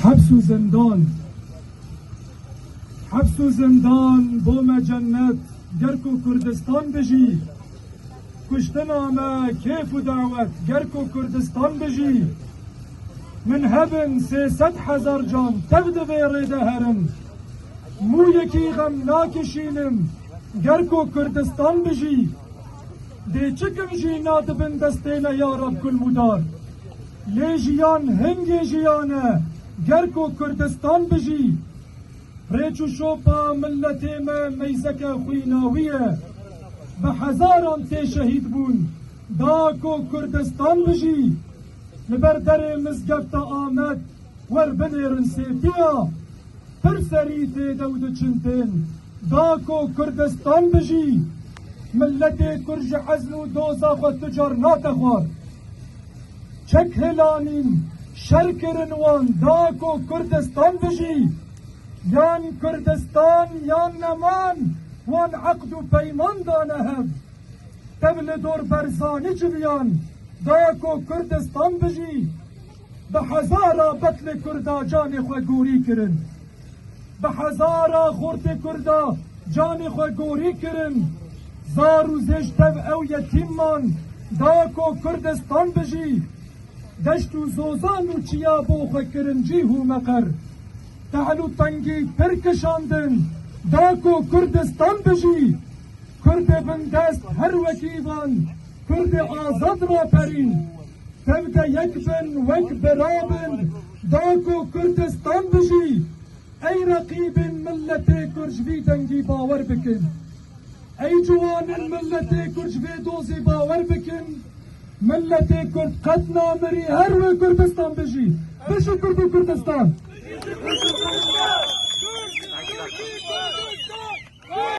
Heps û zindan Heps û zindan bo me cennet ger ku Kurdistan bijî Kuştina me kêf û dawet ger ku Kurdistan bijî Min hebin sê sed hezar can tev di vê rê de herin Mûyekî xem nakişînim ger ku Kurdistan bijî Dê çikim jî na dibin destê me ya Reb Kulmûdar. Lê jiyan hingê jiyan e, ger ku Kurdistan bijî. Rêç û şopa miletê me meyzeke xwîna wî ye. Bi hezaran tê şehîd bûn, da ku Kurdistan bijî. Li ber derê mizgefta Amed wer binêrin sêtiya. Pir serî tê dew diçin tên, da ku Kurdistan bijî. Miletê Kurd ji ezm û doza xwe tu car nate xwar. Çek hêlanîn şer kirin wan da ku Kurdistan bijî, yan Kurdistan yan neman wan eqd û peyman dane hev. Tev li dor Berzanî civiyan da ku Kurdistan bijî, bi hezara betlê Kurda canê xwe gorî kirin. Bi hezara xortê Kurd a canê xwe gorî kirin. Zar û zêj tev ew yetîm man da ku Kurdistan bijî. Deşt û zozan û çiya bo xwe kirin cîh û meqer. Tehl û tengî pir kişandin da ku Kurdistan bijî. Kurdê bindest her wekî van Kurdê azad raperîn. Demke yek bin wek birabin da ku Kurdistan bijî. Ey reqîbên miletê Kurd ji vî dengî bawer bikin. Ey ciwanên miletê Kurd ji vê dozê bawer bikin. Miletê Kurd qet namirî her wê Kurdistan bijî. Bijî Kurd û Kurdistan.